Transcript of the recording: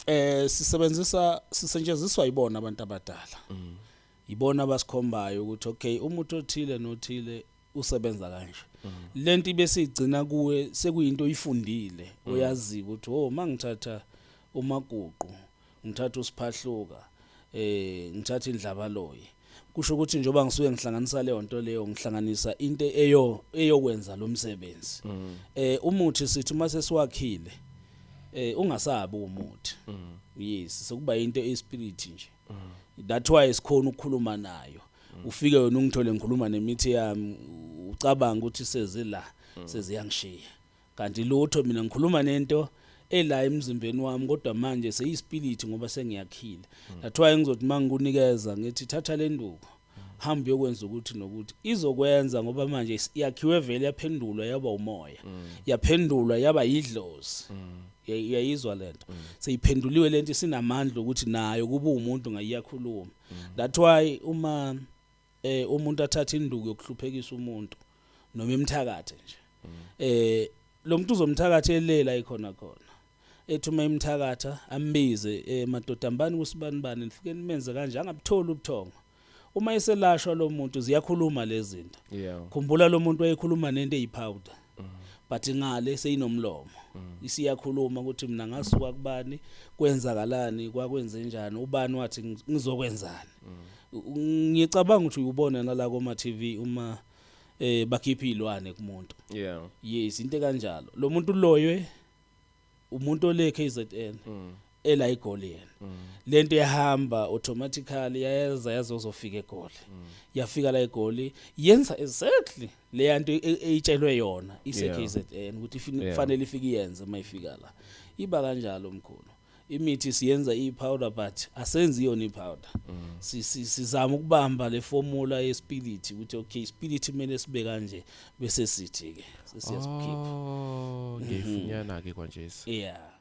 eh sisebenzisa sisetshenziswa yibona abantu abadala mm. yibona abasikhombayo ukuthi okay umuntu othile nothile usebenza kanje mm. lento besigcina kuwe sekuyinto oyifundile mm. oyaziba ukuthi oh mangithatha umaguqu ngithatha usiphahluka eh ngithatha indlaba loyi kusho ukuthi njengoba ngisuke ngihlanganisa leyo nto leyo ngihlanganisa into eyo eyokwenza lo msebenzi mm. eh umuthi sithi uma sesiwakhile eh ungasabi umuthi mm. yes sokuba into espirit nje mm. that's why sikhona ukukhuluma nayo ufike wena ungithole ngikhuluma nemithi yami ucabanga ukuthi sezila seziyangishiya Kanti lutho mina ngikhuluma nento ela emzimbeni wami kodwa manje seyispility ngoba sengiyakhile. Hmm. That's why ngizothi mangikunikeza ngithi thatha le nduku. Hmm. Hamba uyokwenza ukuthi nokuthi izokwenza ngoba manje yakhiwe vele yaphendulwa yaba umoya. Hmm. Yaphendulwa yaba yidlozi. Yayizwa lento. Seyiphenduliwe lento sinamandla ukuthi nayo kuba umuntu ngayiyakhuluma. That's why uma eh umuntu athatha induku yokuhluphekisa umuntu noma imthakathe nje eh lo muntu uzomthakatha elela ikhona khona ethi uma imthakatha ambize eh madoda mbani kusibani bani nifike nimenze kanje angabutholi ubuthongo uma eselashwa lo muntu ziyakhuluma lezi zinto khumbula lo muntu wayekhuluma nento eyipowder but ngale seyinomlomo isiyakhuluma ukuthi mina ngasuka kubani kwenzakalani kwakwenze njani ubani wathi ngizokwenzani ngicabanga ukuthi uyubona nala koma TV uma eh bakhipha izilwane kumuntu yeah yes into kanjalo lo muntu uloywe umuntu ole KZN mm. ela igoli yena mm. lento yahamba automatically yayeza yazozofika egoli mm. yafika la egoli yenza exactly le yanto e, e, eyitshelwe yona ise KZN ukuthi kufanele ifike yenze mayifika la iba kanjalo mkhulu imithi siyenza i-powder but asenzi yona i-powder mm. sizama ukubamba le formula yespirit ukuthi okay ispirit kumele sibe kanje bese sithi ke sesiyazikhipha oh mhm. ngifunyana ke kwanje yeah